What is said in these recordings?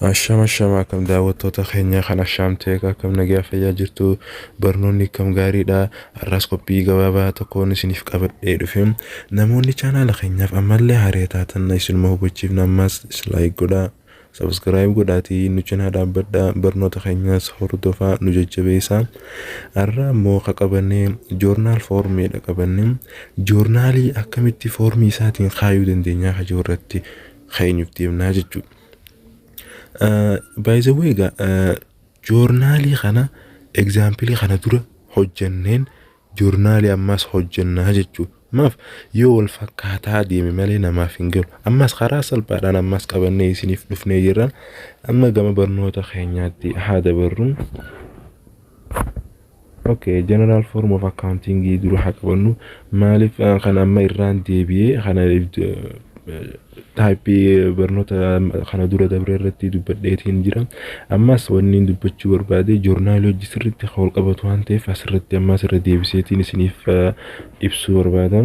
Ashama ashama akkam daawwattoota keenya kan Ashaam Teek akkam nagaa fayyaa jirtu barnoonni akkam gaariidha har'aas qophii gabaabaa tokkoon isiniif qabadhee dhufe namoonni chaanaala keenyaaf ammallee haree taatan isinuma hubachiifna ammas laayik godhaa sabiskiraayib godhaatii nu cinaa dhaabbadha barnoota keenyaas hordofaa nu jajjabeessa har'a immoo ka qabannee joornaal foormiidha qabannee joornaalii akkamitti foormii isaatiin kaayuu dandeenyaa kajoo irratti keenyuuf deemnaa jechuudha. By the way egaa eh, joornaalii kana egzaampilii kana dura hojjanneen joornaalii ammas hojjannaa jechuudha. Maaf yoo wal fakkaataa deeme malee namaaf hin galu. Ammas karaa salphaadhaan ammas qabannee isiniif dhufnee jirra. Amma gama barnoota keenyaatti haa dabarru. Ok general form of accounting dura haa qabannu maaliif kan amma irraan deebi'ee kana taayippii barnoota kana dura dabre irratti dubbadheetiin jira ammas wanni dubbachuu barbaade joornaalii hojii sirriitti kan wal qabatu waan ta'eef asirratti ammas irra deebiseetiin isiniif ibsuu barbaada.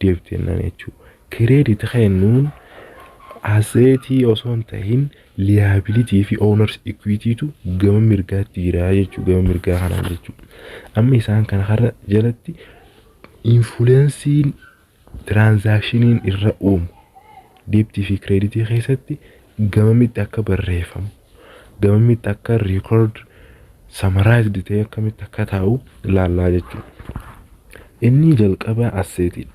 deebiteennan jechuu credit kennuun aseetii osoo hin tahin liability fi owners equity tu gama mirgaatti jira jechuu gama mirgaa kanaan jechuu amma isaan kana har'a jalatti influensiin tiraanzaakshiniin irra uumu deebtii fi kireeditii keessatti gamamitti akka barreeffamu gamamitti akka record summarized ta'e akkamitti akka taa'u ilaallaa jechuudha. Inni jalqabaa asseetiidha.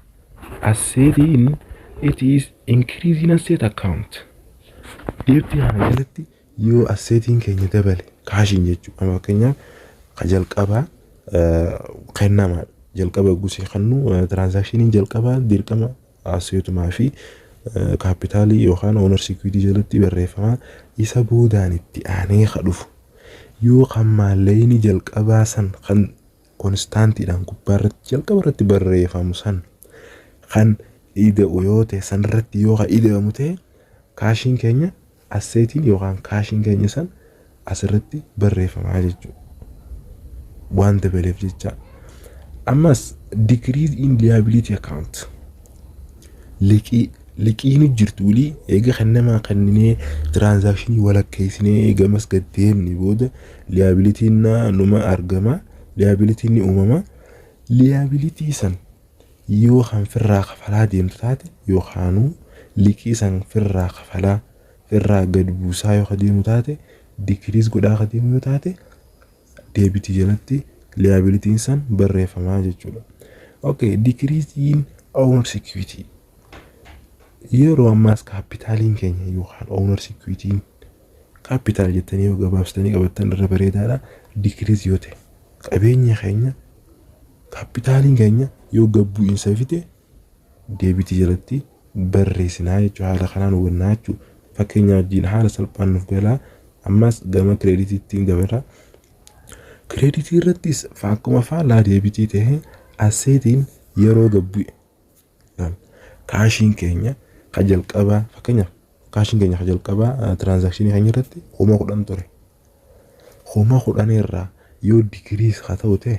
Asseetiin it is increasing asset account. Deebtii kana jalatti yoo asseetiin keenya dabale kaashiin jechuudha. Amma fakkeenyaaf ka jalqabaa eh, kennamaadha. Jalqaba gusee kennu eh, tiraanzaakshiniin jalqabaa dirqama Asseetumaa fi kaappitaalii yookaan oonar sikiwiitii jalatti barreeffama isa boodaan itti aanee ka dhufu yoo kan maallaqni jalqabaa san kan konistaantiidhaan gubbaa irratti jalqaba irratti barreeffamu san kan ida'u yoo ta'e san irratti yoo ka ida'amu ta'e kaashiin keenya Asseetiin yookaan kaashiin keenya san asirratti barreeffamaa jechuudha. Waan dabaleef jecha. Ammas decrease in liability account. Liqii liqii nu jirtu walii eega kan namaa kenninee tiraansaakshinii walakkeessinee eegamas gad deemne booda liabilitiin numa argama liabilitiin ni uumama liabilitii san Yoo kan firraa kafalaa deemtu taate yookaanuu liqii san firraa kafalaa firraa gad buusaa yoo ka deemu taate dikiriis godhaa ka deemu yoo taate deebitii jalatti liyaabilitiin san barreeffamaa jechuudha. Okay, decrease in owner security. Yeroo ammaas kaappitaaliin keenya yookaan owner security kaappitaal jettanii yoo gabaabsitanii qabattan irra bareedaadha. Decrease yoo ta'e qabeenya keenya Kaappitaaliin keenya yoo gad bu'iinsa fide deebitii jalatti barreessinaa jechuudha. Haala kanaan hubannaa jechuudha. Fakkeenya wajjin haala salphaan nuuf galaa. Ammas gama kireeditiitti dabarra. Kireeditii irrattis akkuma faallaa deebitii ta'e asseetiin yeroo gad bu'e Naam. Kaashiin keenya ka jalqabaa fakkeenyaaf kaashiin keenya ka jalqabaa eh, tiraansaakshinii keenya irratti kuma kudhan ture. Kuma kudhan irraa yoo digiriis haa ta'u ta'e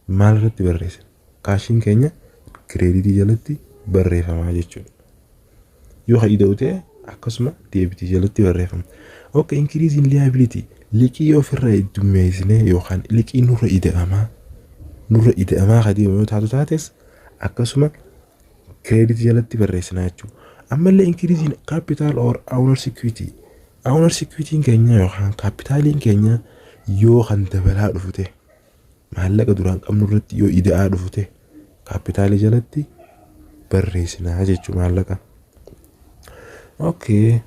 maal irratti barreessina? Kaashiin keenya kireeditii jalatti barreeffamaa jechuudha. Yoo ka ida'u ta'e akkasuma deebitii jalatti barreeffama. Oke inkiriiziin liyaabilitii liqii yoo ofirraa heddummeessinee yookaan liqii nurra ida'amaa nurra ida'amaa ka deemu yoo taatu taates akkasuma credit jalatti barreessina jechuudha. Ammallee increase in capital or owner's equity. Owner's equity keenya yookaan kaapitaaliin keenya yoo kan dabalaa dhufu ta'e maallaqa duraan qabnu irratti yoo ida'aa dhufu ta'e kaapitaalii jalatti barreessinaa jechuudha maallaqa. Okay.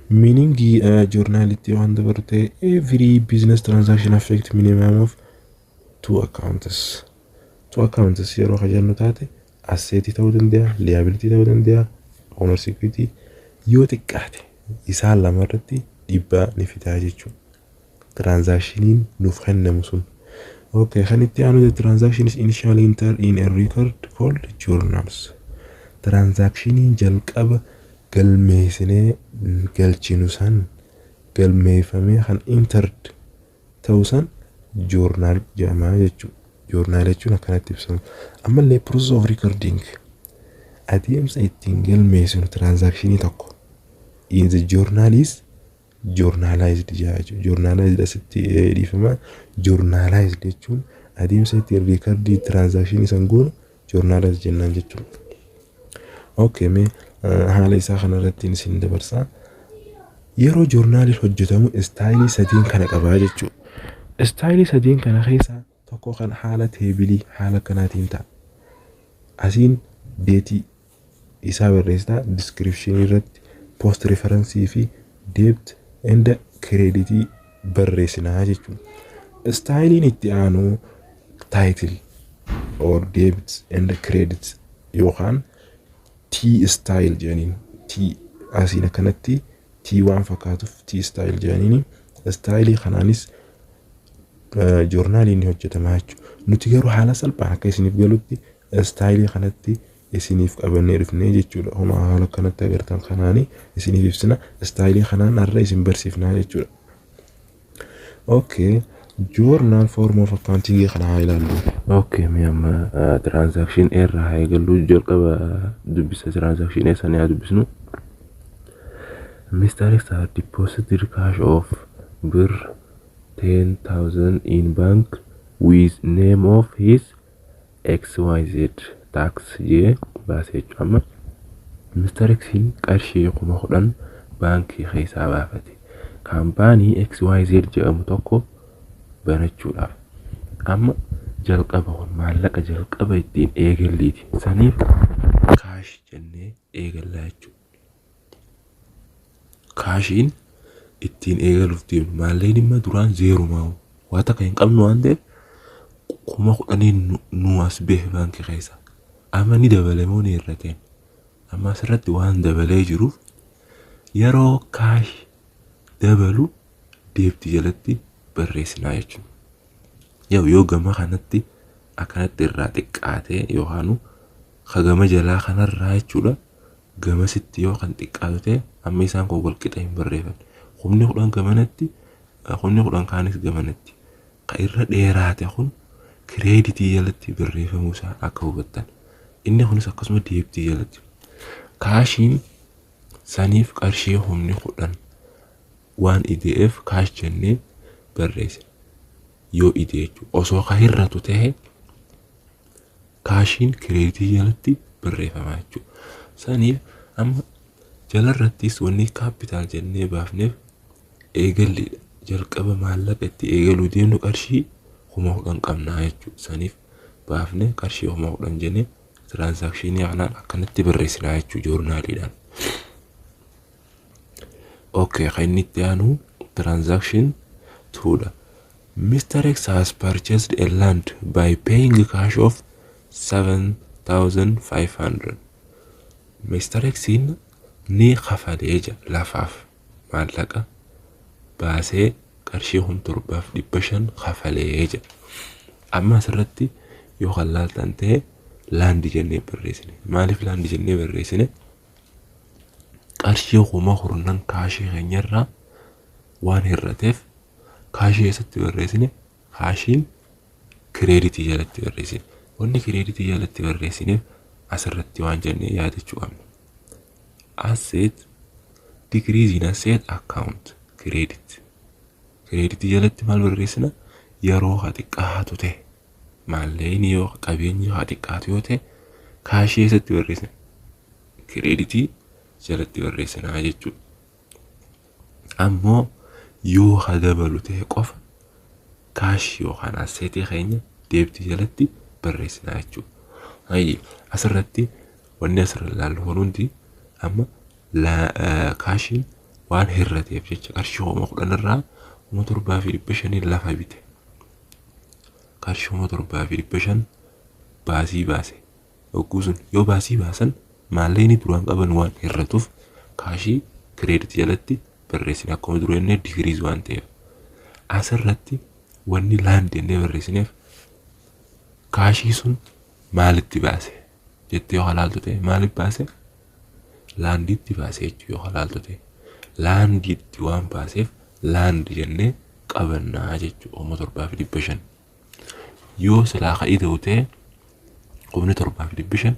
Meaning uh, journality waan dabaru ta'e every business transaction affect minimum of Two accounts. Two accounts yeroo kan jennu taate asseetii ta'uu danda'a, liability ta'uu danda'a, owner security yoo xiqqaate isaan lama irratti dhiibbaa ni fidaa jechuudha. Transactioniin nuuf kennamu sun. Okay, kan itti aanu the transaction is initially entered in a record called journals. Transactioniin jalqaba galmeessinee galchinu san galmeeffamee kan entered ta'uu san journal jedhama jechuudha. Journal jechuun akkanatti ibsama. Ammallee process of recording adeemsa ittiin galmeessinu transaction tokko in the journal is journalized jedha jechuudha. Journalized asitti dhiifama journalized jechuun adeemsa ittiin recording transaction san goonu journalize jennaan jechuudha. Okay mee haala isaa kanarratti isin dabarsaa. Yeroo joornaaliin hojjetamu istaayilii sadiin kana qabaa jechuudha. Istaayilii sadiin kana keessaa tokko kan haala teebilii haala kanaatiin ta'a. Asiin deetii isaa barreessita description irratti post reference fi debt and credit barreessinaa jechuudha. Istaayiliin itti aanu title or debt and credit yookaan T style jedhaniin T asiin akkanatti T waan fakkaatuuf T style jedhaniin istaayilii kanaanis joornaaliin ni hojjetama jechuudha. Nuti garuu haala salphaan akka isiniif galutti istaayilii kanatti isiniif qabannee dhufnee jechuudha. Homa haala kanatti agartan kanaani isiniif ibsina. Istaayilii kanaan har'a isin barsiifnaa jechuudha. Okay. Journal form of accounting kana haa ilaallu. Okay, mee amma ah, transaction A irraa haa eegallu. Jalqaba dubbisa transaction A sana haa dubbisnu. Mr. X had deposited cash of birr 10,000 in bank with name of his xyz tax jee baase jechuudha amma Mr. X qarshii kuma kudhan baankii keessaa baafate kaampaanii xyz jedhamu tokko banachuudhaaf amma jalqaba kun maallaqa jalqaba ittiin eegalliiti saniif kaash jennee eegallaa jechuudha. kaashiin ittiin eegaluuf deemnu maalleen immoo duraan zeerumaa waa takka hin qabnu waan ta'eef kuma kudhanii nu- nu as bahe baankii keessa amma ni dabale moo ni hir'ateen amma asirratti waan dabalee jiruuf yeroo kaash dabalu deebti jalatti barreessinaa jechuudha. Yoo yoo gama kanatti akkanatti irraa xiqqaatee yookaan hagama jalaa kanarraa jechuudha gamasitti yoo kan xiqqaatu ta'e amma isaan kun wal qixa hin barreefan. Kumni kudhan gamanatti kumni kudhan kaanis gamanatti. Ka irra dheeraate kun kireeditii jalatti barreeffamuu isaa akka hubattan. Inni kunis akkasuma deebtii jalatti. Kaashiin saniif qarshii kumni kudhan waan ideef kaash jennee barreessina. Yoo ide jechuudha. Osoo ka hir'atu ta'e kaashiin kireeditii jalatti barreeffama jechuudha. Saniif amma jalarrattis wanni kaappitaal jennee baafneef eegalleedha. Jalqaba maallaqa itti eegaluu deemnu qarshii kuma kudhan qabnaa jechuudha. Saniif baafne qarshii kuma kudhan jennee tiraansaakshinii kanaan akkanatti barreessinaa jechuudha joornaaliidhaan. Okay, kan inni itti aanu tiraansaakshin tuudha. Mister X has purchased a land by paying cash of 7500 Mister X ni kafalee ja lafaaf maallaqa baasee qarshii kun torbaaf dhibba shan kafalee ja amma asirratti yoo kan laaltan ta'e laandi jennee barreessine maaliif laandi jennee barreessine qarshii kuma kurnan kaashii keenyarraa waan hir'ateef kaashii eessatti barreessine kaashiin kireeditii jalatti barreessine wanni kireeditii jalatti barreessineef asirratti waan jennee yaadachuu qabna asset decrease in asset account credit kireeditii jalatti maal barreessina yeroo haa xiqqaatu ta'e maallaqni yoo qabeenyi haa xiqqaatu yoo ta'e kaashii eessatti barreessina kireeditii jalatti barreessinaa jechuudha. Ammoo yoo ka dabalu tahe qofa cash yookaan asset keenya debt jalatti barreessina jechuudha. Hayye asirratti wanni asirra ilaallu kun hundi amma kaashiin waan hirrateef jecha qarshii kuma kudhan irraa kuma torbaa fi dhibba shaniin lafa bite. Qarshii kuma torbaa fi dhibba shan baasii baase Hogguu sun yoo baasii baasan maallaqni duraan qaban waan hir'atuuf kaashii credit jalatti barreessina akkuma dura jennee decrease waan ta'eef. Asirratti wanni land jennee barreessineef kaashii sun maalitti baase jettee yoo halaaltu ta'e maaliif baase laandiitti baase jechuu yoo halaaltu ta'e laandiitti waan baaseef laandi jennee qabannaa jechuu kuma torbaa fi dhibba shan. Yoo silaa ka ida'u ta'e kumni torbaa fi dhibbi shan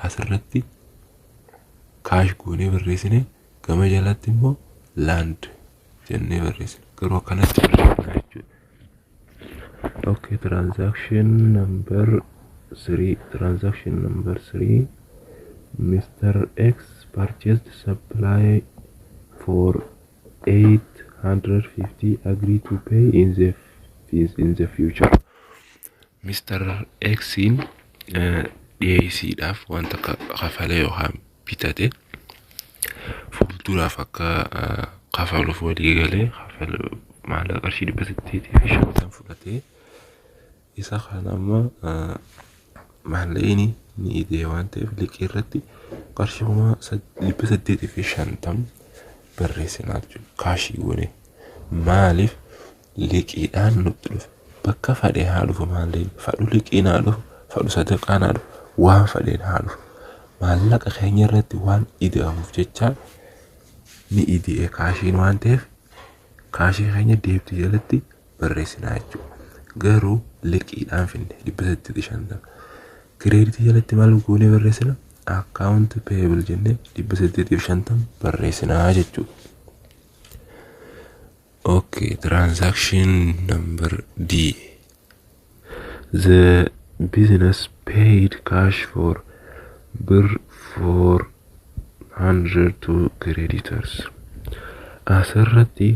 asirratti kaash goonee barreessine gama jalatti immoo laand jennee barreessine garuu akkanatti barreessina jechuudha. Okay, transaction number three, transaction number three, Mr. X purchased supply for 850 agree to pay in the, f- in the future Mr. X'n eh, dhiyeessiidhaaf wanta ka- kafale yookaan bitate fuulduraaf akka eh, kafaluuf walii galee kafala maallaqa qarshii dhibba saddeetii fi shantan fudhatee Isa kaan amma maallaqni ni idee waan ta'eef liqii irratti qarshii kuma dhibba saddeetii fi shantam barreessinaa jechuudha. Kaashii goone maaliif liqiidhaan nutti dhufe bakka fadhee haa dhufu maallaqni fadhu liqiin haa dhufu fadhu sadaqaan haa dhufu waan fadheen haa dhufu maallaqa keenya irratti waan ida'amuuf jecha ni idee kaashiin waan ta'eef kaashii keenya deebitee jalatti barreessinaa jechuudha. Garuu liqiidhaan finne dhibba saddeetii fi shantama. Kireeditii jalatti maal goonee barreessina? Akkaawunti peebil jennee dhibba saddeetii fi shantama barreessinaa jechuudha. Okay, transaction number D. the business paid cash for bir 400 to creditors asirratti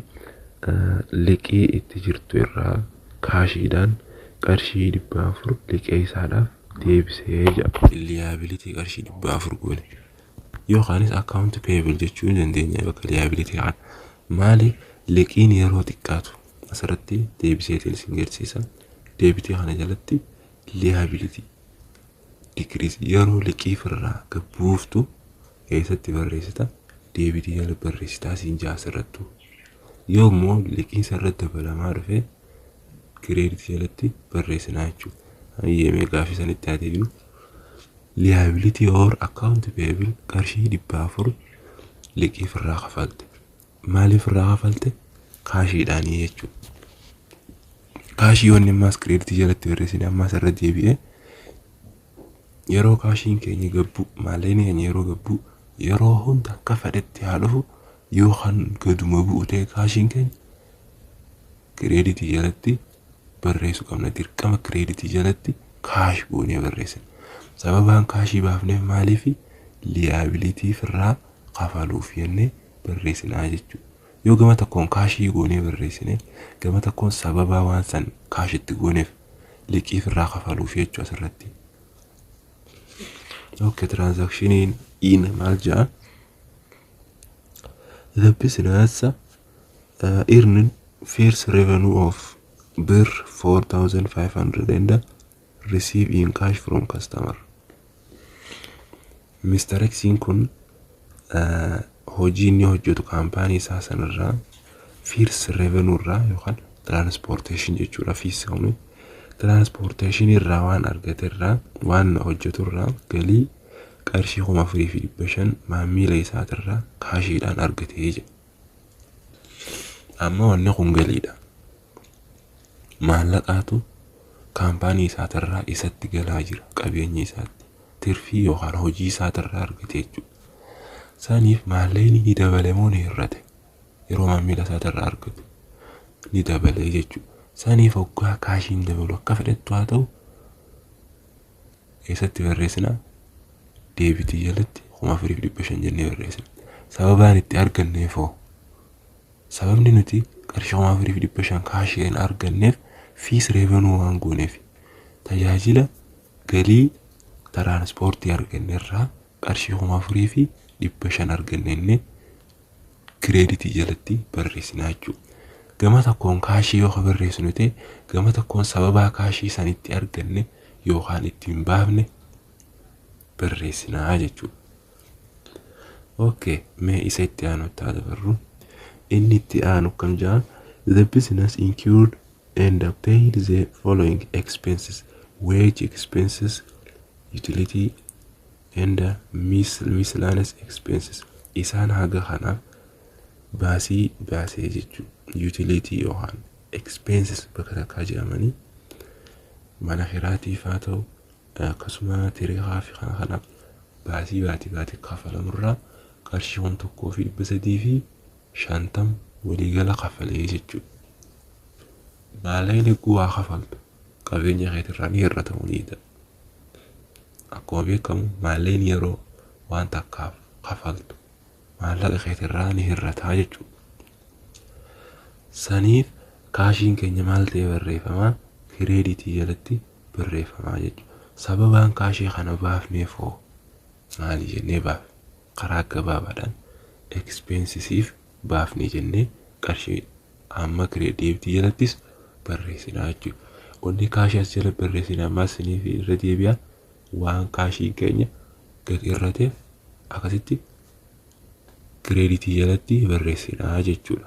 eh, liqii itti jirtu irraa kaashiidhaan qarshii dhibba afur liqee isaadhaaf deebisee jedha liyaabilitii qarshii dhibba afur goone yookaanis akkaawunti peebil jechuu ni dandeenya bakka liyaabilitii kana maali liqiin yeroo xiqqaatu asirratti deebiseetiin isin garsiisa. Deebitii kana jalatti liability decrease yeroo liqii firraa gabbuuftu eessatti barreessita deebitii jala barreessitaa siin jaa asirrattu. Yoo immoo liqiin sarratti dabalamaa dhufe kireeditii jalatti barreessinaa jechuudha. Hayyamee gaafii sanitti haa deebinu. Liability or account payable qarshii dhibba afur liqii firraa kafalte. Maaliif irraa kafalte? Kaashiidhaanii jechuudha. Kaashii wanni ammaas kireeditii jalatti barreessine ammaas irra deebi'ee yeroo kaashiin keenya gabbuu maallaqni keenya yeroo gabbuu yeroo hunda akka fedhetti haa dhufu yoo kan gaduma bu'u ta'e kaashiin keenya kireeditii jalatti barreessuu qabna dirqama kireeditii jalatti kaash goonee barreessina sababaan kaashii baafneef maaliif liyaabilitii firraa kafaluuf jennee barreessinaa jechuudha. Yoo gama tokkoon kaashii goonee barreessine gama tokkoon sababaa waan san kaashitti gooneef liqii firraa kafaluuf jechuu asirratti. Okay, transaction in maal jedha? The business uh, earned first revenue of birr 4,500 and receive in cash from customer Mr. X kun uh, hojii inni hojjetu kaampaanii isaa sanarraa firs revenue irraa yookaan transportation jechuudha fiis kuni transportation irraa waan argate irraa waan hojjetu irraa galii qarshii kuma afurii fi dhibba shan maamiila isaatirraa kaashiidhaan argatee jedha. Amma wanni kun galiidha. maallaqaatu kaampaanii isaatirraa isatti galaa jira qabeenya isaatti tirfii yookaan hojii isaatirraa argate jechuudha. Saniif maallaqni ni dabale moo ni hir'ate yeroo maamila isaatirraa argatu ni dabalee jechuudha. Saniif hoggaa kaashiin dabalu akka fedhettu haa ta'u eessatti barreessina deebitii jalatti kuma afuriif dhibba shan jennee barreessina. Sababaan itti arganneef hoo Sababni nuti qarshii kuma afurii fi dhibba shan kaashii kan arganneef fees revenue waan gooneef tajaajila galii tiraansipoortii arganne irraa qarshii kuma afurii fi dhibba shan arganne inni kireeditii jalatti barreessinaa jechuudha. Gama tokkoon kaashii yoo barreessinu ta'e gama tokkoon sababaa kaashii san itti arganne yookaan ittiin baafne barreessinaa jechuudha. ok mee isa itti aanutti haa dabarru inni itti aanu kam jaa the business incurred and paid the following expenses wage expenses utility and mis- miscellaneous expenses isaan haga kana baasii baasee jechuu utility yookaan expenses bakka takkaa jedhamanii mana kiraatiif haa ta'u Akkasuma tiree haafi kana kana baasii baatii baati kafalamu irraa qarshii kun tokkoo fi dhibba sadii fi shantam waliigala kafalee jechuudha. Maallaqa liquu waa kafaltu qabeenya keetirraa ni irra ta'uu ni danda'a. Akkuma beekamu maallaqni yeroo waan takkaaf kafaltu maallaqa keetirraa ni irra ta'a jechuudha. Saniif kaashiin keenya maal ta'ee barreeffama? Kireeditii jalatti barreeffamaa jechuudha. Sababaan kaashee kana baafneef hoo maali jennee baafne? Karaa gabaabaadhaan expenses baafne jennee qarshii amma create deebiti jalattis barreessina jechuudha. Wanni kaashii as jala barreessine ammas isiniif irra deebi'a waan kaashiin keenya gad irrateef akkasitti kireeditii jalatti barreessina jechuudha.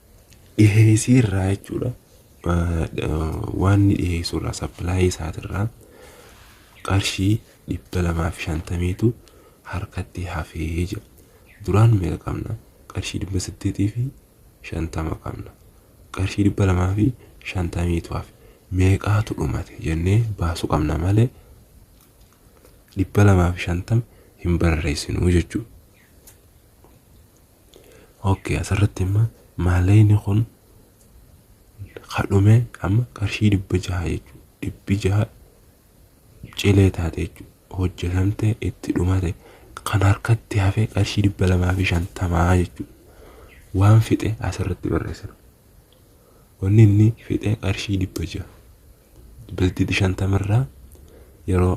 dhiheessii irraa jechuudha. Waan inni dhiheessu irraa sappilaayii isaatirraa qarshii dhibba lamaa fi shantamiitu harkatti hafee jira. Duraan meeqa qabna? Qarshii dhibba saddeetii fi shantama qabna. Qarshii dhibba lamaa fi shantamiitu hafe. Meeqaatu dhumate jennee baasu qabna malee dhibba lamaa fi shantama hin barreessinu jechuudha. Okay asirratti imma maaleyni kun kadhume amma qarshii dhibba jaha jechuudha. Dhibbi jaha cilee taate jechuudha. Hojjetamte itti dhumate kan harkatti hafe qarshii dhibba lamaa fi shantamaa jechuudha. Waan fixe asirratti barreessina. Wanni inni fixe qarshii dhibba jaha. Dhibbeentii shantama irraa yeroo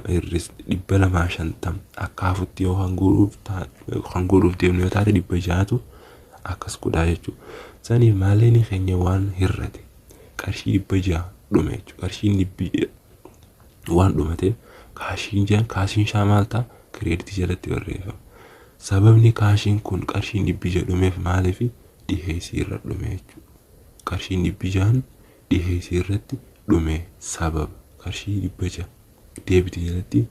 hir'is dhibba lamaa shantam akka hafutti yoo kan guuruuf kan guuruuf deemnu yoo taate dhibba ja'atu akkas godhaa jechuudha. Saniif maallaqni keenya waan hir'ate qarshii dhibba ja'a dhume jechuudha. Qarshiin dhibbi waan dhumate kaashiin jaan kaashiin shaa maal ta'a kireeditii jalatti barreeffama. Sababni kaashiin kun qarshiin dhibbi ja'a dhumeef maaliif dhiheessii irra dhume jechuudha. Qarshiin dhibbi ja'an dhiheesse irratti dhume sababa qarshii 600 deebite jalatti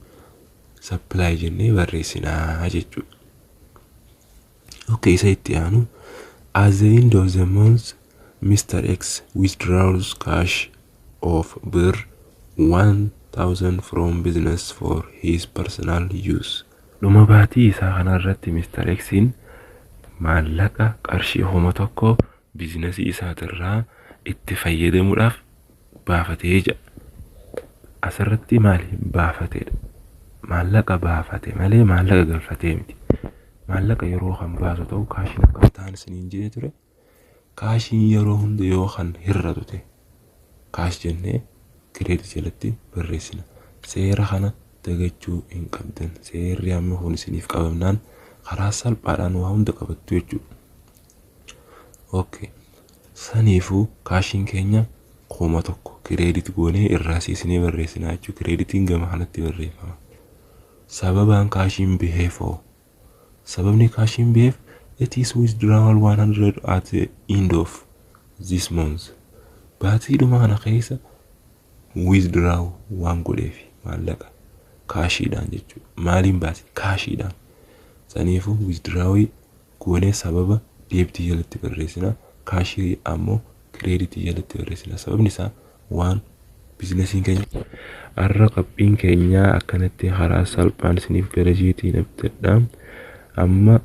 supply jennee barreessina jechuudha. Okay, isa itti aanu at the end of the month Mr. X withdraws cash of birr 1000 from business for his personal use. Dhuma baatii isaa kanarratti Mr. X'n maallaqa qarshii kuma tokko biizinasii isaatirraa itti fayyadamuudhaaf baafate jedha. Asirratti maali? Baafatedha. Maallaqa baafate malee maallaqa galfatee miti. Maallaqa yeroo kan baasu ta'u kaashiin akka hin taane isiniin jedhee ture. Kaashiin yeroo hunda yoo kan hir'atu ta'e kaash jennee kireedit jalatti barreessina. Seera kana dagachuu hin qabdan. Seerri amma kun isiniif qabamnaan karaa salphaadhaan waa hunda qabattu jechuudha. ok saniifu kaashiin keenya kuma tokko kireedit goonee irraa siisinee barreessinaa jechuu kireeditiin gama kanatti barreeffama sababaan kaashiin biheef hoo sababni kaashiin biheef it is withdrawal 100 at the end of this month baatii dhuma kana keessa withdraw waan godheef maallaqa kaashiidhaan jechuudha maaliin baase kaashiidhaan saniifu withdraw goonee sababa deebitii jalatti barreessina kaashirii ammoo kireeditii jalatti barreessina sababni isaa waan biizinasiin keenya Arra qophiin keenyaa akkanatti karaa salphaan isiniif gara jeetiin abdadha amma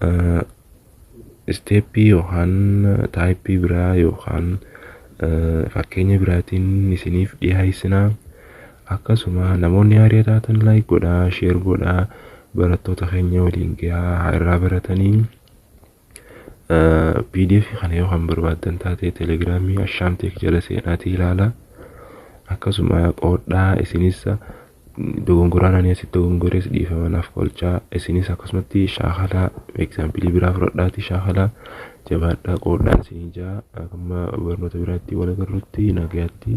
isteeppii yookaan taayippii biraa yookaan fakkeenya biraatiin isiniif dhiyeessinaa Akkasuma namoonni haaria taatan like godhaa, share godhaa, barattoota keenya waliin gahaa haa irraa baratanii. PDF kana yoo kan barbaaddan taate telegiraamii Ashaam Teek jala seenaatii ilaala. Akkasuma qoodhaa isinis dogongoraan ani asitti dogongores dhiifama naaf qolchaa isinis akkasumatti shaakalaa egzaampilii biraa fudhadhaatii shaakalaa jabaadhaa qoodhaan isin ijaa amma barnoota biraatti wal agarrutti nagaatti.